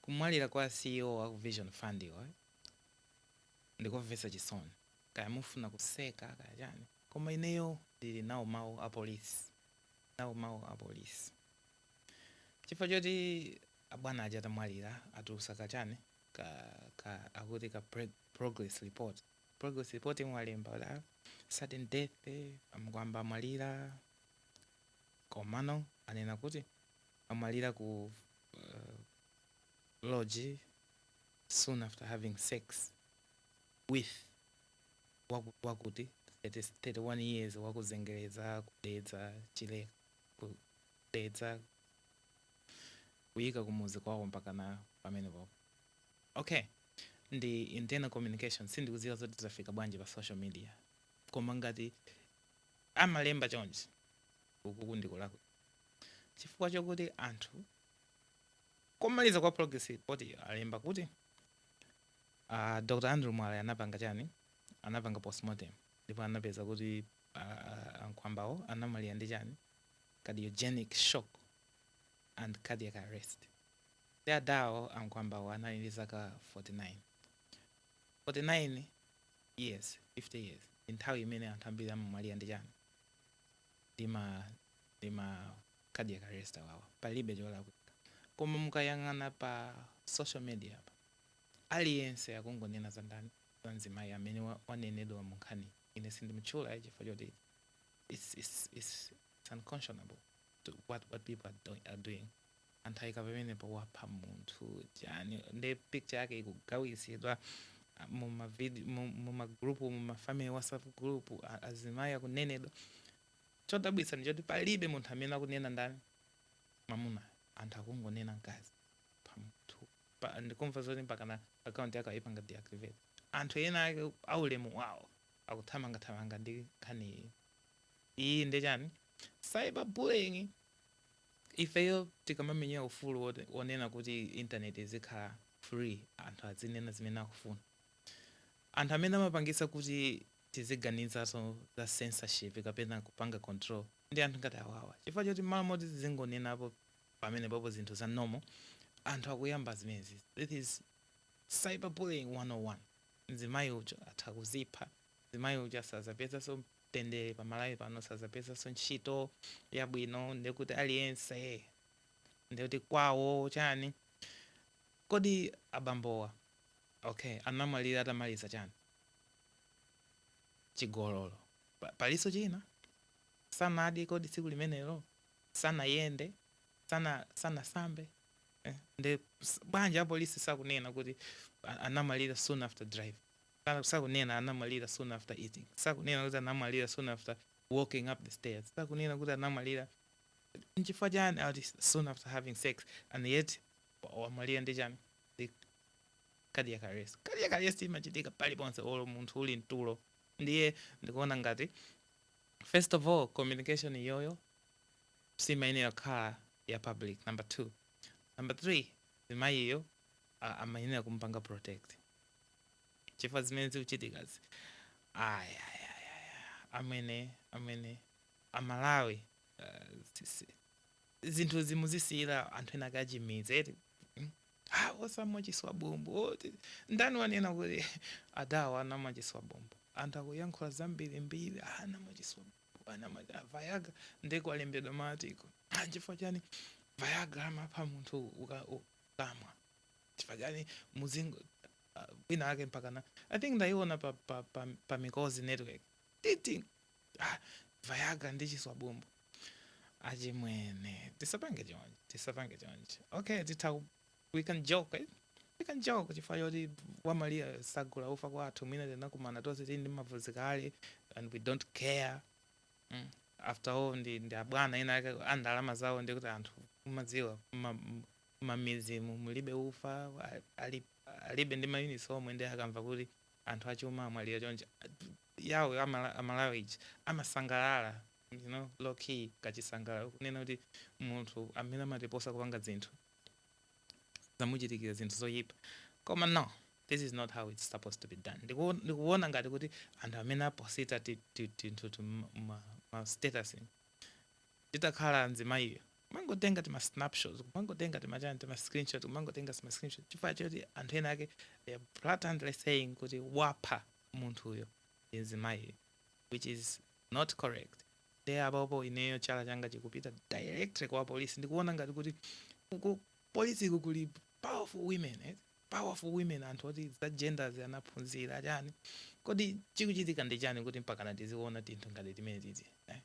Kumwalira kwa ceo wa ku vision fund ndikomvetsa chisoni kaya mufuna kuseka kaya chani koma ineyo ndili nawo mau a police nawo mau a police chifukwa choti abwana aja atamwalira atulutsa ka chani ka ka akuti ka preg progress report progress report yomwe alemba kuti sudden death a nkhwamba amwalira komano anena kuti amwalira ku lodge soon after having sex with waku- wakuti 30 31 years wakuzengereza kudedza chile kudedza kuyika kumuzi kwawo mpakana pamenepopo okay ndi internal communication sindikudziwa zoti zafika bwanji pa social media koma ngati amalemba chonchi ukuku ndikulakwa chifukwa chokuti anthu kumaliza kwa progress report iyo alemba kuti uh, ah, dr andrew mwale anapanga chani anapanga postmortem ndipo anapeza kuti uh, ankhwambawo anamwalira ndi chani cardiogenic shock and cardiac arrest ndi adawo ankhwambawo anali ndi zaka 49 49 years 50 years nthawi imene anthu ambiri amamwalira ndi chani ndima ndima cardiac arrest awawa palibe cholakwika koma mukayang'ana pa social media apa aliyense akungonena za ndani za mzimayi amene wa, wanenedwa mu nkhani ine sindimutchula chifukwa choti it's, it's, it's, it's unconscionable to what, what people are doing, are doing. anthu aika pamenepo wapha munthu chani nde picture yake ikugawidwa ah, mu ma vid- mu- mu ma group mu ma family whatsapp group a- azimayi akunenedwa chodabwitsa ndi choti palibe munthu amene akunena ndani mamuna anthu akungonena mkazi pa munthu Pa- ndikumva zoti mpakana akaunti yake ayipanga deactivate anthu ena ake aulemu wawo akuthamangathamanga ndi nkhani iyi iyi ndi chani cyberbullying ifeyo tikamamenyera ufulu wot wonena kuti internet izikhala free anthu azinena zimene akufuna anthu amene amapangitsa kuti tiziganizanso za censorship kapena kupanga control ndi anthu ngati awawa chifukwa choti mmalo moti tizingonenapo pamenepopo zinthu za normal anthu akuyamba zimenezi this is cyberbullying 101 mzimayi uja atha kuzipha mzimayi uja sazapezanso mtendere pa Malawi pano sazapezanso ntchito yabwino ndekuti aliyense ndekuti "kwao" chani kodi abambowa okay anamwalira atamaliza chani chigololo pa, palinso china sanadye kodi tsiku limenelo sanayende sana sanasambe eh, nde bwanji apolisi sakunena kuti anamwalira soon after drive Sakunena anamwalira soon after eating, sakunena kuti anamwalira soon after walking up the stairs, sakunena kuti anamwalira nchifukwa chani akuti soon after having sex and yet wamwalira ndi chani ndi cardiac arrest. Cardiac arrest imachitika paliponse olo munthu uli mtulo ndiye ndikuona ngati first of all communication iyoyo simayenera kukhala ya public number two number three mzimayiyo a amayenera kumupanga protect chifukwa zimene zikuchitikazi ayayayaya amwene amwene amalawi uh, si- si- zinthu muziwasiyira anthu ena akachimidzi eti Mm. Ah, asa amwa chiswa bombo oh, ti- ndani wanena kuti adawa anamwa chiswa bombo anthu akuyankhula zambirimbiri ah, anamwa chiswa bombo anamwa ah, Viagra nde kwalembedwa ma article ah, chifukwa chani Viagra amapha munthu uka- u- kamwa chifukwa chani muzingo ah, wina ake mpakana i think ndaiona pa, pa, pa, pa Mikozi Network ati ah, Viagra ndi chiswa bombo achimwene tisapange choncho tisapange choncho okay titha ku- we can joke eh? we can joke chifukwa choti wamaliya sagula ufa kwathu mwina tinakumana tonse tili ndi mavuto kale and we don't care mm after all ndi ndi abwana ena ake a ndalama zawo ndiye kuti anthu mumadziwa ma- m- mmabinimu mulibe ufa a- ali, alibe ndi mayunitsi omwe ndiye akamva kuti anthu achuma amwalira choncho yawo amala- amalawi ija amasangalala you know low key kusangalala kunena kuti munthu amene amatiposa kupanga dzinthu zamuchitikira zinthu zoyipa koma no this is not how it's supposed to be done Ndiku- ndikuwona ngati kuti anthu amene aposita ti- ti- tinthuti ma- ma ma status nditakhala mzimayiyo kumangotenga tima snapshots kumangotenga timachani tima screenshot kumangotenga tima screenshot chifukwa choti anthu ena ake they are blatantly saying kuti wapha munthuyo ndi mzimayiyo which is not correct nde apopo ineyo chala changa chikupita directly kwa apolisi ndikuona ngati kuti ku polisiku kuli powerful women eh? powerful women anthu oti za gender anaphunzira chani kodi chikuchitika ndi chani kuti mpakana tiziona tinthu ngati timene titi eh?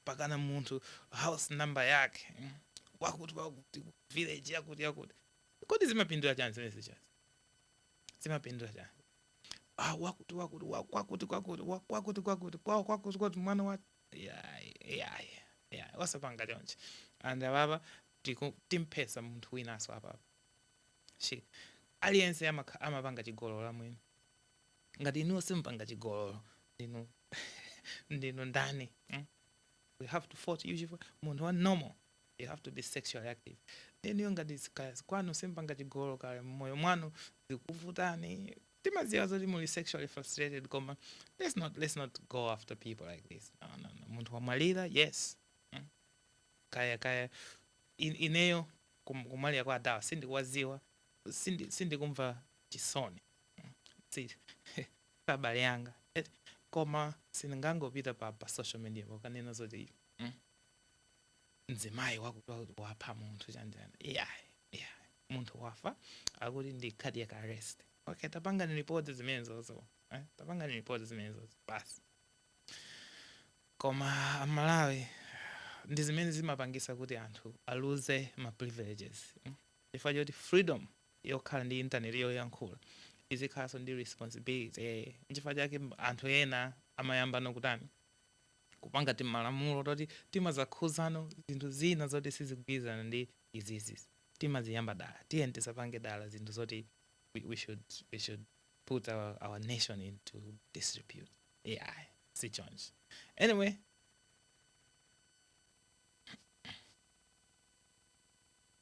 mpakana munthu house number yake mm, wakuti wakuti ku village yakuti yakuti kodi zimapindula chani zimene zijazi zimapindula chani ah, wakuti wakuti wakwakuti kwakuti wakwakuti kwakuti kwawo kwakuti kwakuti mwana wa yayi yayi yayi wasapanga chonchi and apapa tiku- timphetsa munthu winaso apapa shi aliyense amakha- amapanga chigololo amwene, ngati inuyo simupanga chigololo ndinu ndinu ndani mm? we have to fault you chifukwa munthu wa normal you have to be sexually active inuyo ngati si- kaya si- kwanu simpanga chigololo kaya mmoyo mwanu zikuvutani timaziwa zoti muli sexually frustrated koma let's not, let's not go after people like this no, no, no. munthu wamwalira yes Mm. kaya kaya in, ineyo kum- kumwalira kwa adawa sindikuwaziwa sindi- sindikumva chisoni Mm. Si- si abale anga Eh, koma sindingangopita pa, pa social media kukanena zoti mzimayi wakuti wapha munthu chanjani yeah, yeah. munthu wafa akuti ndi cardiac arrest okay tapangani report zimenezozo eh? tapangani report zimenezozo basi koma amalawi ndi zimene zimapangisa kuti anthu aluze ma privileges mm? chifukwa choti freedom yokhala ndi internet yoyankhula izikhalanso ndi responsibility eh, nchifukwa chake anthu ena amayamba nokutani kupanga timalamulo toti timazakhuzano zinthu zina zoti sizigwirizana ndi izizi timaziyamba dala tiyeni tisapange dala zinthu zoti we, we should, we should put our, our nation into disrepute ayi si chonchi anyway